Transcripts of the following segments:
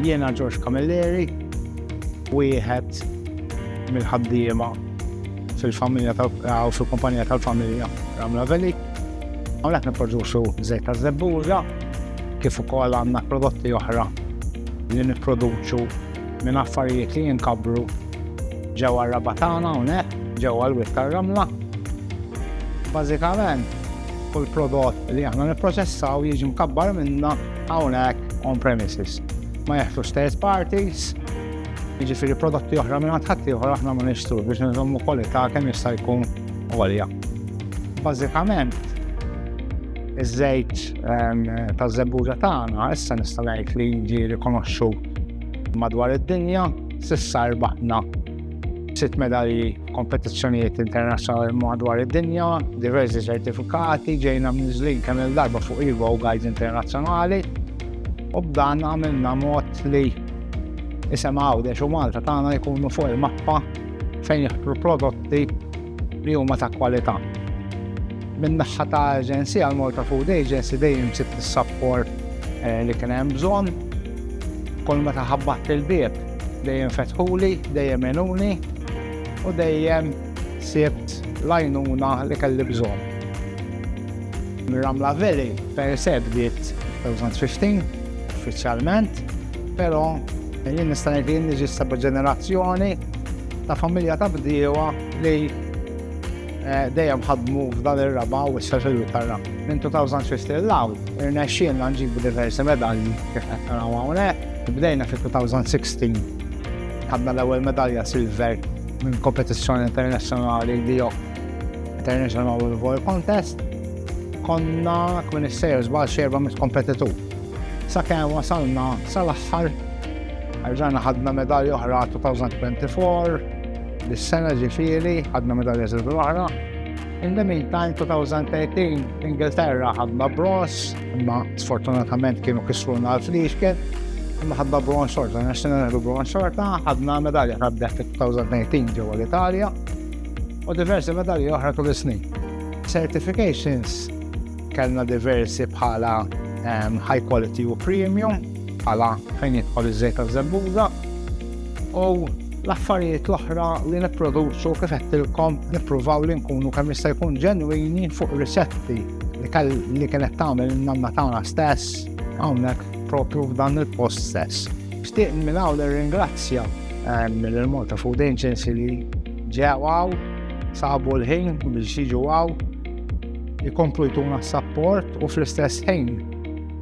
Jiena George Camilleri, wieħed mill-ħaddiema fil-familja u fil-kumpanija tal-familja Ramla Veli. Għamlek niproduċu zejt ta' zebbuġa, kif ukoll għandna prodotti oħra li nipproduċu minn affarijiet li jinkabbru ġewwa r-raba' tagħna hawnhekk, ġewwa l-wied tar-ramla. Bażikament, kull prodott li aħna nipproċessaw jiġi mkabbar minna hawnhekk on premises. Ma jeħtux third parties, jiġifieri prodotti oħra minn ħadd ieħor aħna ma nixtru biex nżommu kwalità kemm jista' jkun għolja. Bażikament, iż-żejt ehm, ta' żebbuġa tagħna issa nista' ngħid li jiġi rikonoxxut Madwar id-dinja, s'issa rbaħna sitt medalji f'kompetizzjonijiet internazzjonali madwar id-dinja, diversi ċertifikati, ġejna mniżżlin kemm il-darba fuq Evo Guides Internazzjonali, u b'dan għamilna mod li isem Għawdex u Malta tagħna jkunu fuq il-mappa fejn jaħtru prodotti li huma ta' kwalità. Min-naħa ta' Aġenzija għal Malta Food Agency dejjem sibt is-sapport eh, li kien hemm bżonn. Kull meta ħabbat il-bieb dejjem fetħuli, dejjem enuni u dejjem sibt lajnuna li kelli bżonn. Ramla Valley per se bdiet 2015 uffiċjalment, però jien nista' ngħid li ġista ġenerazzjoni ta' familja ta' bdiewa li eh, dejjem ħadmu f'dan ir-raba u issa fil tarra Minn 2015 l-law, irnexxielna nġibu diversi medalji kif qed naraw hawnhekk. Bdejna fil-2016 ħadna l-ewwel medalja silver minn kompetizzjoni internazzjonali li jo International World Contest. Konna kmin is-sejr żbal xerba mit-kompetitur. Sakemm wasalna sal-aħħar, erġajna ħadna medalja oħra 2024, dis-sena ġifieri ħadna medalja silver oħra. In the meantime, 2013, Ingilterra ħadna bronz, imma sfortunatament kienu kisruna l-fliexken, imma ħadna bronz xorta, nexxina neħdu bronz xorta, ħadna medalja ħadna fi 2018 ġewwa l-Italja, u diversi medalji oħra tul is-snin. Certifications Kellna diversi bħala ehm, high quality u premium, bħala fejn jidħol iż-żejt ta' żebbuża. U l-affarijiet l-oħra li nipproduċu kif qedtilkom nippruvaw li nkunu kemm jista' jkun ġenwini fuq risetti li kell li kienet tagħmel nanna tagħna stess hawnhekk propju f'dan il-post stess. Xtieq minn hawn nirringrazzja eh, mill-Malta Food Agency li ġew sabu l-ħin biex jiġu għaw jkomplu jtuna s-sapport u fl-istess ħin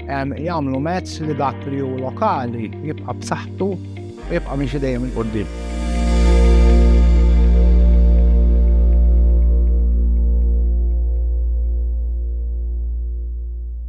jagħmlu mezz li dak li hu lokali jibqa' b'saħħtu u jibqa' miex dejjem il-qudiem.